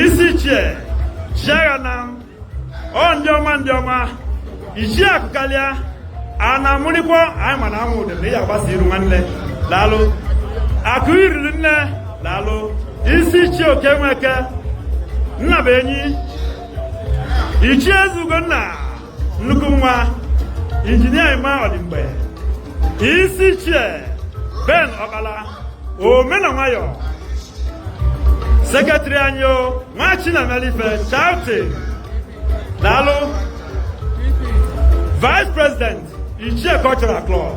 isi ichie Chiaghanam o ndị ọma ndị ọma ichie akụkalịa a na-amụrịkwa anyị ma na anwụ ụdị na ị agbasa iru nwanne daalụ akụ iriri nne daalụ isi ichie Okey Nweke nna bụ enyi ichie eze ugonna nnukwu nwa engineer Emma Odimgbe isi ichie Ben Ọkpala ome na nwayọ secretary anyị o nwa Chinamelife Charity daalụ vice president ichie cultural club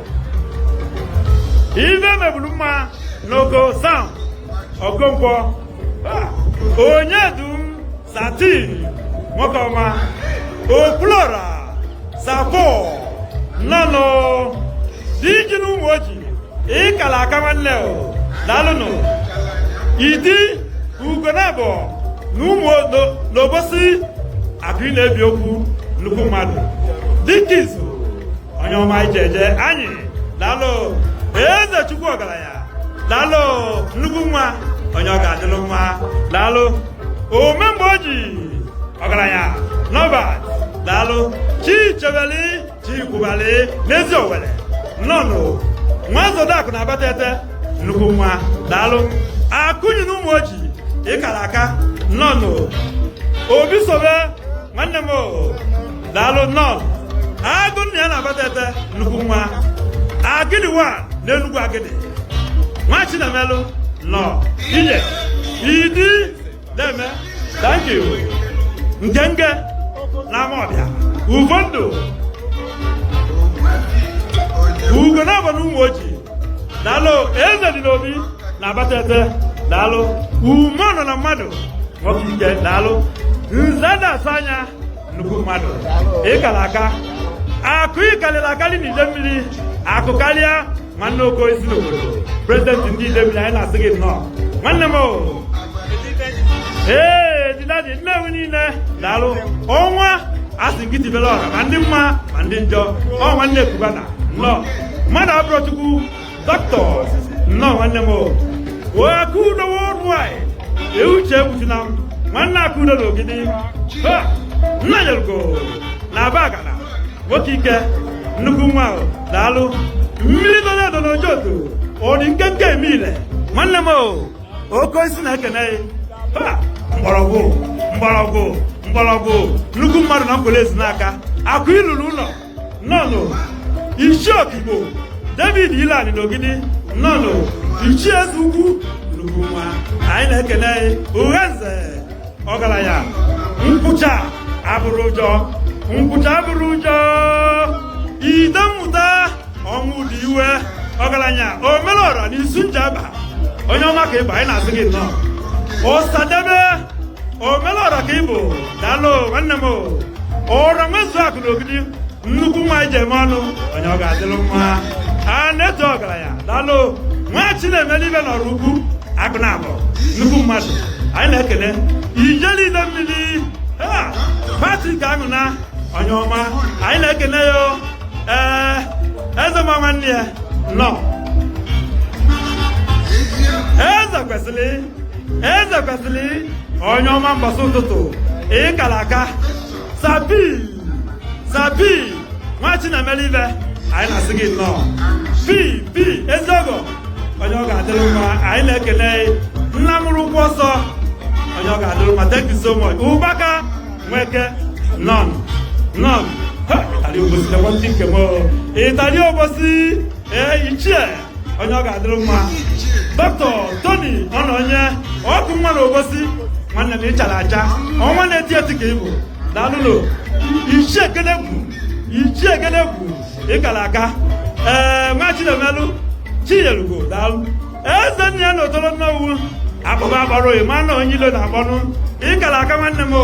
ife mebulu mma n'Oko Sam Okonkwo ah, onye dum Satin nwoke ọma Okwulọra Safo nnọọnụ di ji n'Ụmụoji ịkala aka nwanne o daalụnụ idi Ugonabọ na ụmụ n'obosi akụ na-ebi okwu nnukwu mmadụ dike izu onye ọma ije eje anyị daalụ eze chukwu ọgaranya daalụ nnukwu nwa onye ọ ga-adịlụ mma daalụ ome mgbe o ji ọgaranya n'Ọba daalụ chi chebeli chi kwubali n'Eziowelle nnọọnụ nwa zodakụ n'Abatete nnukwu nwa daalụ akụnyi n'Ụmụoji ịkala aka nnọọnụ obi sobe nwanne m daalụ nnọọ agụ nna ya n'Abatete nnukwu nwa agịdịwa n'Enugwu Agịdị nwa chinamelụ nnọọ ije idi deeme thank you ngenge n'Amaọbịa ugo ndụ Ugonabọ n'Ụmụoji daalụ eze dị n'obi n'Abatete daalụ ume nọ na mmadụ nwoke ike daalụ nze na-asa anya nnukwu mmadụ ịkala aka akụ ịkalịlị akalị n'Idemili akụkalịa nwanna oke osisi n'obodo president ndị Idemili anyị na-asị gị nnọọ nwanne m ee didadi Nnewi niine daalụ ọnwa a sị gị tibelụ ọra ma ndị mma ma ndị njọ ọ nwanne Cubana nnọọ mmadụ abụrọ Chukwu Doctors, nnọọ nwanne m Akudo worldwide ee uche egbuchuna m nwanna Akudo n'Ogidi Nnanyelugo n'Abagana nwoke ike nnukwu nwa daalụ mmili dolu edo n'Ojoto ọ dị nkenke eme ile nwanne m oke osisi na-ekene mgbọrọgwụ mgbọrọgwụ mgbọrọgwụ nnukwu mmadụ na mkpụrụ ezi n'aka akụ ilulu ụnọ nnọnụ ichie okigbo david ilani n'ogidi nnọnụ ichie eze ugwu nnukwu nwa anyị na-ekene urenze ọgalanya nkwụcha abụrọ ụjọ nkwụcha abụrọ ụjọ ide mmụta ọnwụdiwe ọgalanya omelọra na isu njaba onye ọma ka ịbụ anyị na-asị gị nnọọ osadebe omelọra ka ịbụ daalụ nwanne m o ọra nwezu akụ na ogidi nnukwu nwa eji eme ọnụ onye ọ ga-adịlụ mma a na-eto ọgalanya daalụ nwa chinemelụ ife n'oraukwu akụ na abụ nnukwu mmadụ anyị na-ekene ijele idemmili patrik anwuna onye ọma anyị na-ekene ya ee eze ma nwanne ya nnọọ eze kwesili eze kwesili onye ọma mbọsị ụtụtụ ịkala aka sabi sabi nwa chinemelụ ife anyị na-asị gị nnọọ pi pi ezeọgọ onye ọ ga-adịlụ mma anyị na-ekene nna mụrụ ụkwụ ọsọ onye ọ ga-adịlụ mma thank you so much ụbaka nweke nnọnụ nnọnụ ịtali obosi nekwa ndị nke m ịtali obosi ee ichie onye ọ ga-adịlụ mma dọkịta toni ononye ọkụ nwa na obosi nwanne m ịchala acha ọnwa na-eti eti ka ịbụ daalụnụ ichie ekene bụ ichie ekene bụ ịkala aka ee nwa chinemelụ chiyelugo daalụ eze nna ya na otolo nnewi akpụba akpọrọ ịma na onye ilo na-akpọnụ ịkala aka nwanne m o